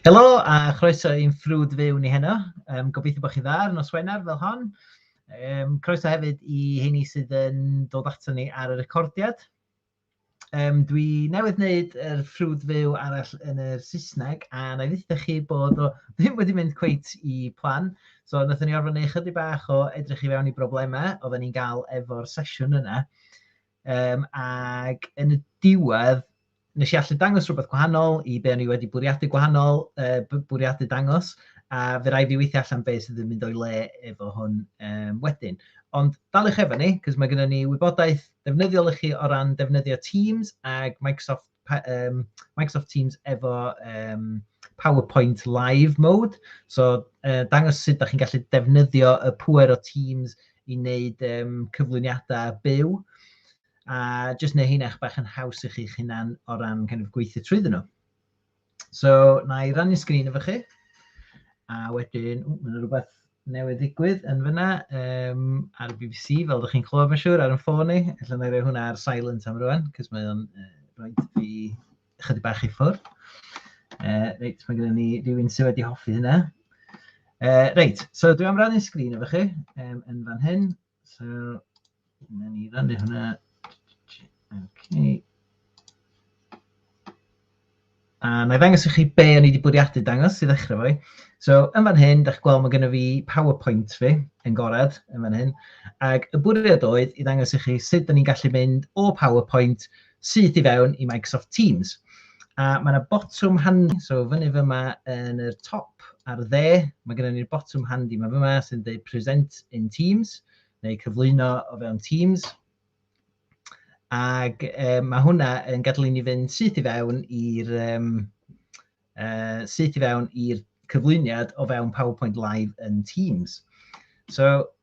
Helo a chroeso i'n ffrwd fyw ni heno. Um, gobeithio bod chi dda ar nos Wener fel hon. Um, croeso hefyd i heini sydd yn dod ato ni ar y recordiad. Um, dwi newydd wneud yr er ffrwd fyw arall yn y Saesneg a na i ddweud chi bod o ddim wedi mynd cweit i plan. So wnaethon ni orfod wneud chydig bach o edrych i fewn i broblemau oedden ni'n gael efo'r sesiwn yna. Um, ac yn y diwedd, nes i allu dangos rhywbeth gwahanol i be o'n i wedi bwriadu gwahanol, uh, bwriadu dangos, a fe rai fi weithio allan beth sydd yn mynd o'i le efo hwn um, wedyn. Ond daliwch efo ni, cos mae gennym ni wybodaeth defnyddiol i chi o ran defnyddio Teams ac Microsoft um, Microsoft Teams efo um, PowerPoint Live Mode. So, uh, dangos sut da chi'n gallu defnyddio y pwer o Teams i wneud um, cyflwyniadau byw. A jyst neu hyn eich bach yn haws i chi'ch hunan o ran kind of, gweithio trwy ddyn nhw. So, na i rannu sgrin efo chi. A wedyn, ww, mae'n rhywbeth newydd ddigwydd yn fyna um, ar y BBC, fel ydych chi'n clywed mae'n siŵr, ar yn ffôn i. Alla i roi hwnna ar silent am rwan, cos mae o'n uh, rhoi fi chydig bach i ffwrdd. Uh, reit, mae gennym ni rhywun sydd wedi hoffi hynna. Uh, reit, so dwi am rannu sgrin efo chi um, yn fan hyn. So, na ni rannu hwnna. Okay. A na i ddangos i chi be o'n i wedi bwriadu dangos i ddechrau fwy. So, yn fan hyn, da chi'n gweld mae gen i fi PowerPoint fi yn gorad yn fan hyn. Ac y bwriad oedd i ddangos i chi sut da ni'n gallu mynd o PowerPoint syth i fewn i Microsoft Teams. A mae yna botwm handi, so fyny fyma yn y top ar y dde, mae gennym ni'r botwm handi yma fyma sy'n dweud Present in Teams, neu cyflwyno o fewn Teams. Ac e, mae hwnna yn gadael i ni fynd syth i fewn i'r um, uh, syth i fewn i'r cyflwyniad o fewn PowerPoint Live yn Teams. So,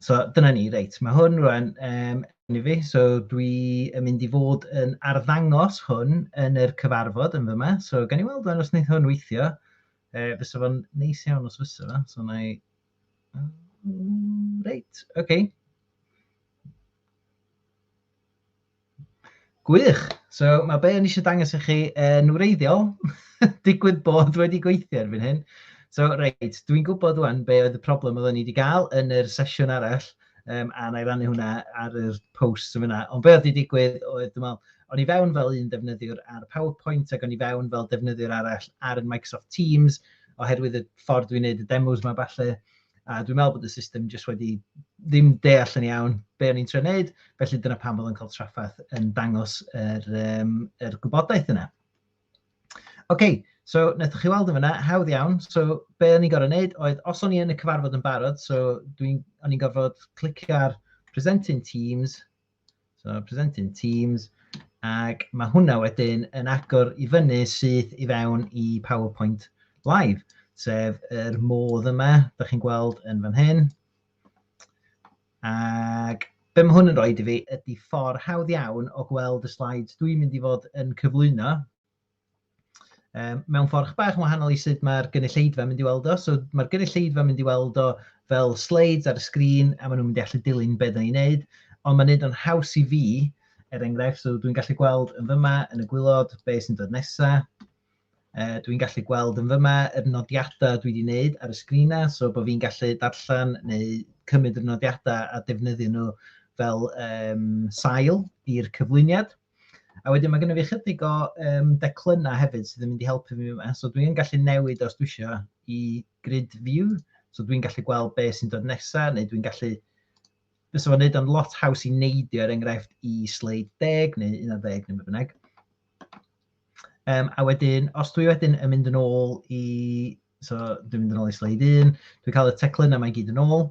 So dyna ni, reit. Mae hwn rwan um, yn i fi, so dwi yn mynd i fod yn arddangos hwn yn yr cyfarfod yn fyma. So gan i weld rwan os wneud hwn weithio, uh, fysa fo'n neis iawn os fysa fo. So na i... Reit, oce. Okay. Gwych! So ma' be' o'n i isio dangos i chi yn wreiddiol digwydd bod wedi gweithio erbyn hyn. So reit, dwi'n gwybod ŵan be' oedd y problem oedden ni wedi gael yn yr sesiwn arall um, a na i rannu hwnna ar yr post yn fyna. Ond be' oedd wedi digwydd oedd dwi'n meddwl, o'n i fewn fel un defnyddiwr ar PowerPoint ac o'n i fewn fel defnyddiwr arall ar Microsoft Teams oherwydd y ffordd dwi'n neud y demos 'ma falle. A dwi'n meddwl bod y system jyst wedi ddim deall yn iawn be o'n i'n trio wneud, felly dyna pam bod o'n cael traffaeth yn dangos yr, um, yr gwybodaeth yna. OK, so wnaethoch chi weld yn fyna, hawdd iawn. So be o'n i'n gorfod wneud oedd, os o'n i yn y cyfarfod yn barod, so dwi'n, o'n i'n gorfod clicio ar present in Teams, So presenting Teams, ac mae hwnna wedyn yn agor i fyny syth i fewn i PowerPoint Live, sef yr modd yma, da chi'n gweld yn fan hyn. Ac be mae hwn yn rhoi i fi ydy ffordd hawdd iawn o gweld y slides dwi'n mynd i fod yn cyflwyno, um, mewn ffordd bach yn wahanol i sut mae'r gynulleidfa mynd i weld o. So mae'r gynulleidfa mynd i weld o fel slides ar y sgrin a maen nhw'n mynd i allu dilyn beth ni'n neud. Ond mae'n neud o'n haws i fi, er enghraifft, so dwi'n gallu gweld yn fyma yn y gwylod be sy'n dod nesaf. Uh, dwi'n gallu gweld yn fyma yr nodiadau dwi wedi wneud ar y sgrinau, so bod fi'n gallu darllen neu cymryd y nodiadau a defnyddio nhw fel um, sail i'r cyflwyniad. A wedyn mae gennym fi chydig o um, declynnau hefyd sydd yn mynd i helpu fi yma. So dwi'n gallu newid os dwi eisiau i grid view. So dwi'n gallu gweld be sy'n dod nesaf, neu dwi'n gallu... Fes o'n neud o'n lot haws i neidio er enghraifft i sleid 10 neu 11 neu beth bynnag. Um, a wedyn, os dwi wedyn yn mynd yn ôl i So dwi'n mynd yn ôl i sleid un, dwi'n cael y teclyn a mae gyd yn ôl.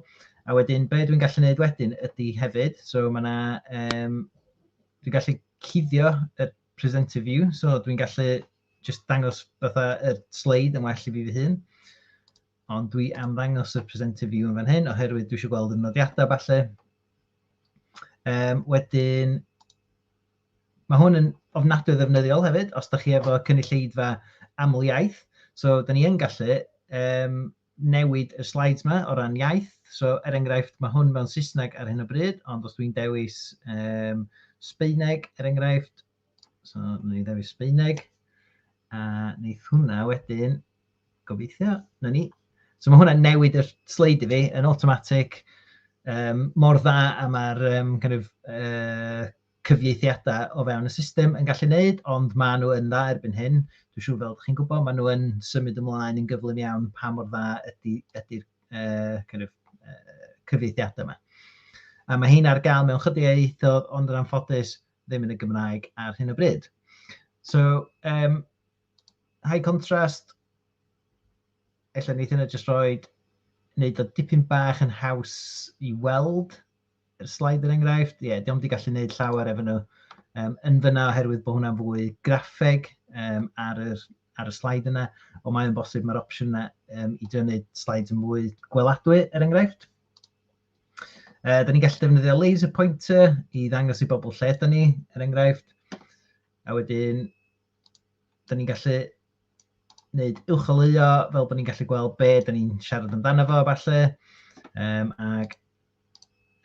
A wedyn, be dwi'n gallu gwneud wedyn ydy hefyd, so mae yna, um, dwi'n gallu cuddio y presenter view, so dwi'n gallu just dangos fatha y sleid yn well i fi fy hun. Ond dwi am ddangos y presenter view yn fan hyn, oherwydd dwi eisiau gweld y nodiadau falle. Um, wedyn, Mae hwn yn ofnadwy o ddefnyddiol hefyd os da chi efo cynulleidfa aml iaith. So, da ni yn gallu um, newid y slides yma o ran iaith. So, er enghraifft, mae hwn mewn Saesneg ar hyn o bryd, ond os dwi'n dewis um, Sbeineg, er enghraifft, so, na ni ddewis Sbeineg, a wneud hwnna wedyn, gobeithio, na ni. So, mae hwnna'n newid y sleid i fi yn automatic, um, mor dda a mae'r um, kind of, uh, cyfieithiadau o fewn y system yn gallu wneud, ond maen nhw yn dda erbyn hyn. Dwi'n siŵr fel chi'n gwybod, maen nhw yn symud ymlaen yn gyflym iawn pa mor dda ydy'r ydy, ydy uh, kind of, uh, cyfieithiadau yma. A mae hyn ar gael mewn chydig ieithoedd, ond yn anffodus ddim yn y Gymraeg ar hyn o bryd. So, um, high contrast, efallai wneud hynna jyst roed, wneud o dipyn bach yn haws i weld, yr slaid yr er enghraifft, ie, yeah, diolch wedi gallu gwneud llawer efo nhw um, yn fyna oherwydd bod hwnna'n fwy graffeg um, ar, yr, ar y slaid yna, ond mae'n bosib mae'r opsiwn yna um, i drio wneud slaid yn fwy gweladwy er enghraifft. Uh, da ni'n gallu defnyddio laser pointer i ddangos i bobl lle da ni, er enghraifft. A wedyn, da ni'n gallu wneud uwcholeuo fel bod ni'n gallu gweld be da ni'n siarad amdano fo falle. Um, ac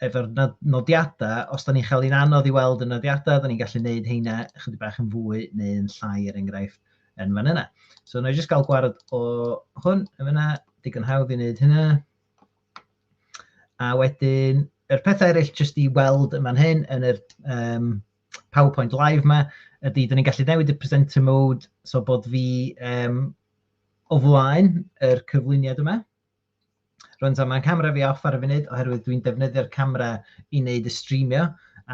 efo'r nodiadau, os da ni'n cael ein anodd i weld y nodiadau, da ni'n gallu gwneud heina chydig bach yn fwy neu'n llai er enghraifft yn fan yna. So na i jyst gael gwared o hwn yn yna, digon hawdd i wneud hynna. A wedyn, yr pethau eraill jyst i weld yn fan hyn yn yr um, PowerPoint live 'ma ydy, dan ni'n gallu newid y presenter mode so bod fi yym o flaen yr cyflwyniad yma. Rwy'n dweud mae'n camera fi off ar y funud oherwydd dwi'n defnyddio'r camera i wneud y streamio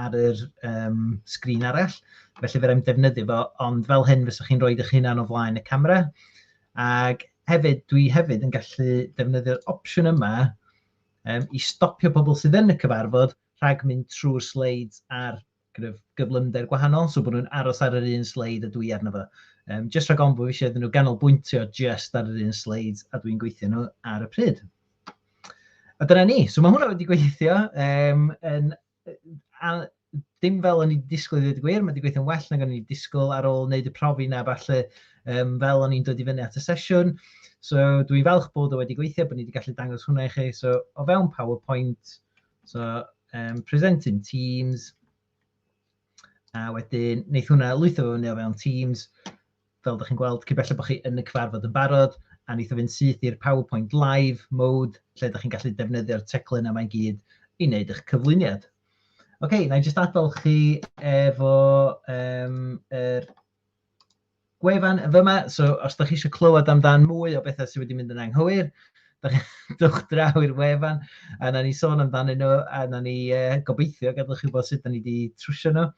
ar yr um, sgrin arall. Felly fe rhaid defnyddio fo, ond fel hyn fyswch chi'n rhoi eich hunan o flaen y camera. Ac hefyd, dwi hefyd yn gallu defnyddio'r opsiwn yma um, i stopio pobl sydd yn y cyfarfod rhag mynd trwy'r sleids ar kind of, gyflymder gwahanol, so bod nhw'n aros ar yr un sleid a dwi arno fo. Um, just rhag ofn bod fi eisiau iddyn nhw ganolbwyntio just ar yr un sleid a dwi'n gweithio nhw ar y pryd. A dyna ni. So mae hwnna wedi gweithio. Um, yn, a, dim fel o'n i'n disgwyl i ddweud y gwir, mae wedi gweithio'n well nag o'n i'n disgwyl ar ôl wneud y profi na falle um, fel o'n i'n dod i fyny at y sesiwn. So dwi'n falch bod o wedi gweithio, bod ni wedi gallu dangos hwnna i chi. So o fewn PowerPoint, So, um, present in Teams, a wedyn wneith hwnna lwytho fo fyny o fewn Teams, fel ydych chi'n gweld, cyn belled bod chi yn y cyfarfod yn barod, a wneith o fynd syth i'r PowerPoint Live mode, lle ydych chi'n gallu defnyddio'r teclyn yma i gyd i wneud eich cyflwyniad. Oce, okay, na i jyst adael chi efo um, er, gwefan fy yma, so os da chi eisiau clywed amdan mwy o bethau sydd wedi mynd yn anghywir, dwch draw i'r wefan, a na ni sôn amdanyn nhw, a na ni e, gobeithio gadwch chi bod sut da ni wedi trwsio nhw.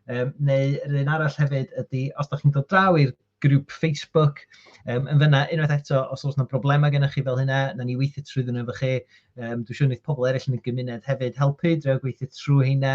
Um, neu yr un arall hefyd ydy, os da chi'n dod draw i'r grŵp Facebook. Um, yn fyna, unwaith eto, os oes yna broblemau gennych chi fel hynna, na ni weithio trwy ddyn efo chi. Um, dwi'n siŵr wneud pobl eraill yn y gymuned hefyd helpu, drwy gweithio trwy hynna.